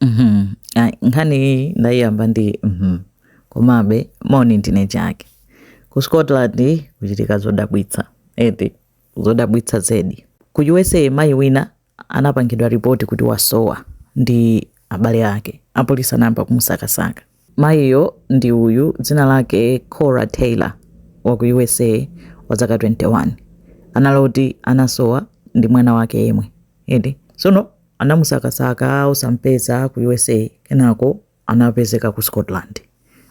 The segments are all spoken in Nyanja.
Mhm. Ayi, nkhani iyi ndayiyamba ndi komabe moni ndine chake ku scotland kuchitika zodabwitsa eti zodabwitsa zedi ku usa mayi wina anapangidwa ripoti kuti wasowa ndi abale ake apolisi anayamba kumusakasaka Mayiyo ndi uyu, dzina lake Cora Taylor, wa ku U.S.A. wa zaka 21. Anali oti anasowa ndi mwana wake yemwe, eti? Tsono anamusakasaka osam'peza ku U.S.A. Kenako anapezeka ku Scotland,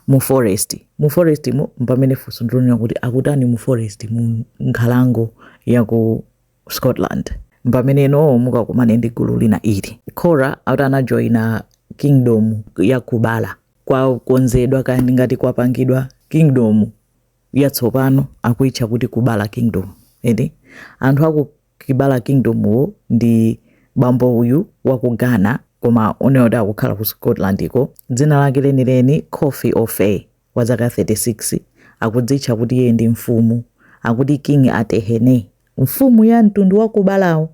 mu forest. Mu forest mo, m'pamene funso ndilonena kuti akutani mu forest, mu nkhalango ya ku. scotland mpamene ino mukakumane ndi gulu lina ili kora akuti anajoyina kingdom ya kubala kwakonzedwa kandi ngati kwapangidwa kingdom yatsopano akuitcha kuti kubala kingdom eti anthu aku kubala kingdom wo ndi bambo uyu wa ku ghana koma oneoti akukhala ku scotland iko dzina lake lenileni kofi offeh wa zaka 36 akudzitcha kuti iye ndi mfumu akuti king atehene mfumu ya mtundu wa kubalawo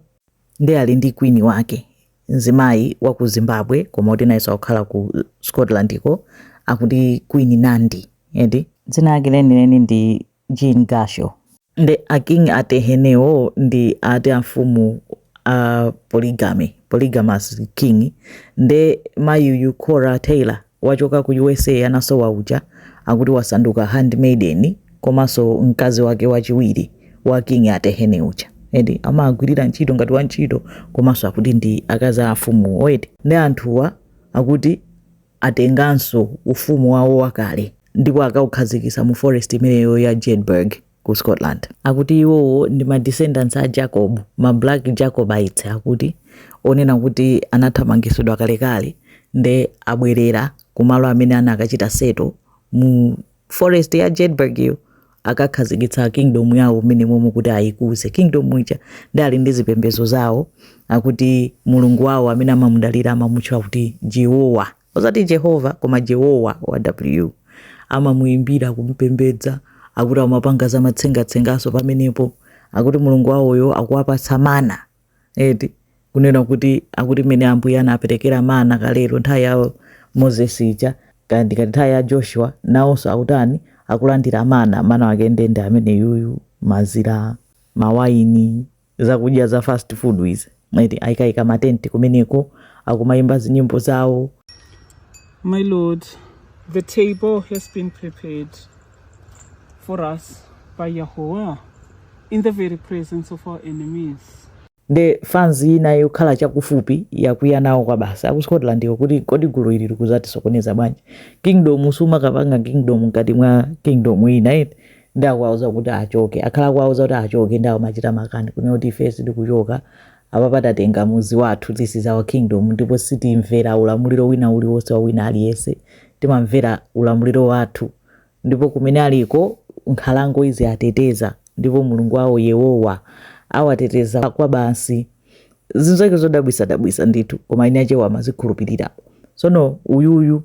nde ali ndi queen wake mzimayi wa ku zimbabwe koma kuti nayenso akukhala ku scotland ko akuti queen nandi eti dzina lake lenileni ndi Jean Gasho. Nde a king atehene wo ndi ati a mfumu a po polygamous king nde mayuyu Cora Taylor wachoka ku USA anasowa uja akuti wasanduka handmaiden komanso mkazi wake wachiwiri wa king atehene uja eti amagwirira ntchito ngati wantchito komanso akuti ndi akazi a mfumuwo eti nde anthuwa akuti Atenganso ufumu wawo wakale ndipo akaukhazikitsa mu forest imeneyo ya Jedburgh ku Scotland. Akuti iwowo ndi ma descendants a Jacob, ma Black Jacobites akuti, onena kuti anathamangitsidwa kalekale nde abwerera kumalo amene anakachita settle mu forest ya jedburgh yo akakhazikitsa kingdom yawo mmenemomo kuti ayikuze kingdom ija nde ali ndi zipembedzo zawo akuti mulungu wawo amene amamudalira amamutcha kuti jehowa osati jehova koma jehowa wa w amamuyimbira kumpembedza akuti amapanga zamatsengatsengaso pamenepo akuti mulungu wawoyo akuwapatsa mana eti kunena kuti akuti mmene ambuye anaperekera mana kalero nthawi ya moses ija kandi ngati nthawi ya joshua nawonso akutani akulandira mana mana wake nde nde ameneyuyu mazira mawaini zakudya za fast food izi eti ayikaika matenti kumeneko akumayimba zinyimbo zawo My Lord, the table has been prepared. for us by Yahweh in the very presence of our enemies. nde fans ina yokhala chakufupi yakwiya nawo kwa basi ku Scotland ko kuti kodi gulu ili likuzatisokoneza bwanji kingdom sumakapanga kingdom mkati mwa kingdom ina iti ndi akuwauza kuti achoke akhala akuwauza kuti achoke ndi akumachita makani kunena kuti ife sitikuchoka Apapa tatenga mudzi wathu, this is our kingdom, ndipo sitimvera ulamuliro wina uliwonse wa wina aliyense, timamvera ulamuliro wathu ndipo kumene aliko nkhalango iziwateteza ndipo Mulungu wawo Yehova awateteza kwabasi. Zinthu zake zodabwisa dabwisa ndithu koma ena Achewa amazikhulupirira. Tsono uyuyu.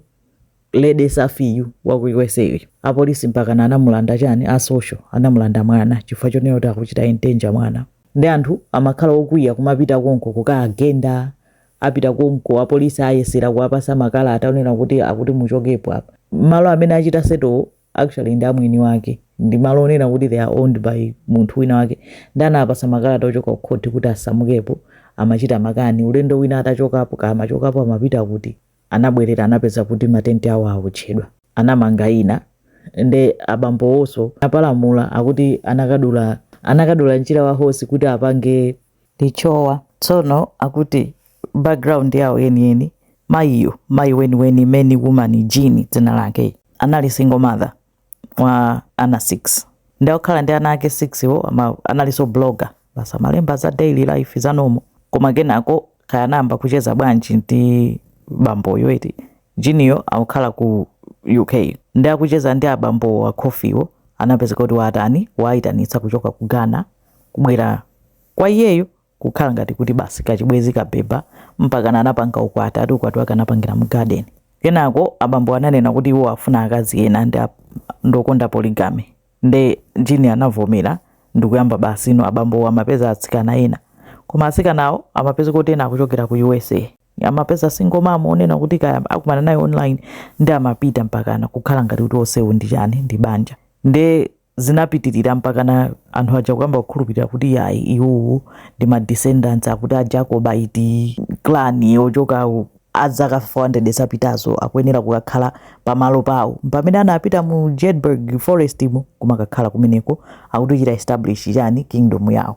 Lady Safi yu wa ku usa uyu apolisi mpakana anamulanda chani a social anamulanda mwana chifukwa chonena kuti akuchita endanger mwana nde anthu amakhala okwiya kumapita konko kukaagenda apita konko apolisi ayesera kuwapatsa makalata onena kuti akuti muchokepo apa malo amene achita settle actually ndi a mwini wake ndi malo onena kuti they are owned by munthu wina wake nde anawapatsa makalata ochoka ku khoti kuti asamukepo amachita makani ulendo wina atachokapo kaya amachokapo amapita kuti anabwerera anapeza kuti matenti awo awotchedwa anamanga ina nde abambowonso apalamula akuti anakadula anakadula mchira wa horse kuti apange lichowa tsono akuti background yawo yeniyeni mayiyo mayi weniweni main woman Jean dzina lake anali single mother wa ana 6 nde akukhala ndi ana ake 6 wo analinso blogger basi amalemba za daily life za normal koma kenako kaya anayamba kucheza bwanji ndi bamboyo eti Jean yo akukhala ku uk ndi akucheza ndi abambo wa Kofi wo anapezeka kuti watani waayitanitsa kuchoka ku ghana kubwera kwa iyeyo kukhala ngati kuti basi kachibwenzi kabeba mpakana anapanga ukwati ati ukwati wake anapangira mu garden kenako abambo ananena kuti iwo afuna akazi ena ndi ap- ndi okonda polygamy nde Jean anavomera ndikuyamba basi ino abambowo amapeza atsikana ena koma atsikanawo amapeza kuti ena akuchokera ku usa amapeza single mom onena kuti kaya akumana naye online ndi amapita mpakana kukhala ngati kuti onsewo ndi chani ndi banja nde zinapitirira mpakana anthu aja kuyamba kukhulupirira kuti yayi iwowo ndi ma descendants akuti a Jacobite clan ochoka azaka 400 zapitazo akuyenera kukakhala pamalo pawo pamene anapita mu Jedburgh forest mu kumakakhala kumeneko akuti kuchita establish chani kingdom yawo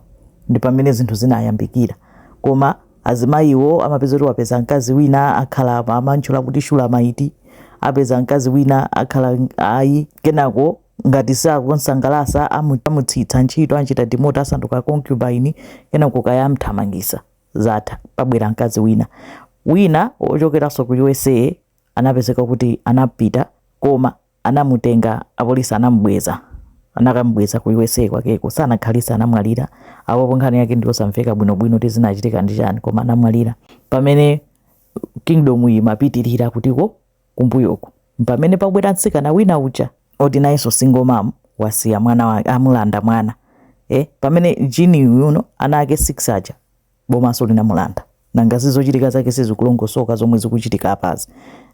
ndi pamene zinthu zinayambikira koma azimayiwo amapeza kuti wapeza mkazi wina akhala amantchula kuti Shulamite apeza mkazi wina akhala ayi kenako ngati sakumsangalasa amu- amutsitsa ntchito anchita demote asanduka concubine kenako kaya amthamangisa zatha pabwera mkazi wina wina wochokeranso ku usa anapezeka kuti anapita koma anamutenga apolisi anamubweza anakamubweza ku usa kwakeko sanakhalisa anamwalira apopo nkhani yake ndiyosamveka bwinobwino kuti zinachitika ndi chani koma anamwalira pamene kingdom iyi imapitirira kutiko kumbuyoku mpamene pabwera mtsikana wina uja oti nayenso single mom wasiya mwana wake amulanda mwana eh, pamene jini yuno ana ake 6 aja bomaso linamulanda nanga zizochitika zake sizikulongosoka zomwe zikuchitika apazi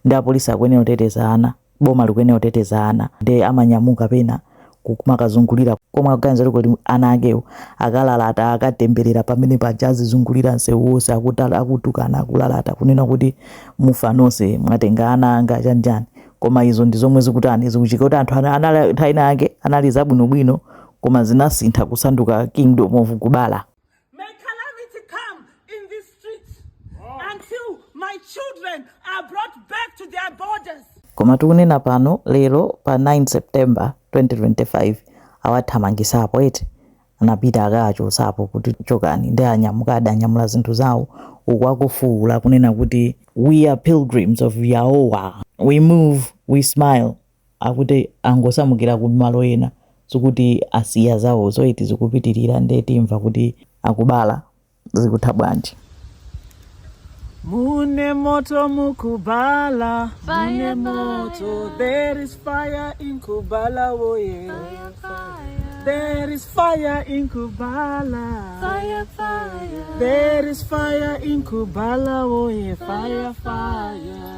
nde apolisi akuyenera kuteteza ana boma likuyenera kuteteza ana ndi amanyamuka pena kumakazungulira komwe akuganiza kuti ana akewo akalalata akatemberera pamene paja azizungulira msewu wonse akuta- akutukana akulalata kunena kuti mufa nonse mwatenga ana anga chanichani koma izo ndi zomwe zikutani zikuchitika kuti anthu ana- anali nthawi ina yake anali zabwinobwino koma zinasintha kusanduka kingdom of kubala May calamity come in these streets oh. until my children are brought back to their borders. Koma tikunena pano lero pa 9 September 2025 awathamangisapo eti anapita akachosapo kuti chokani nde anyamuka atanyamula zinthu zawo uku akufuwula kunena kuti we are pilgrims of Yahweh we move we smile akuti angosamukira ku malo ena sikuti asiya zawozo ayi ti zikupitirira nde timva kuti akubala zikutha bwanji Mune moto mukubala, mune moto. There is fire in Kubala, oh yeah. There is fire in Kubala. Fire, fire. There is fire in Kubala, oh yeah. Fire, fire.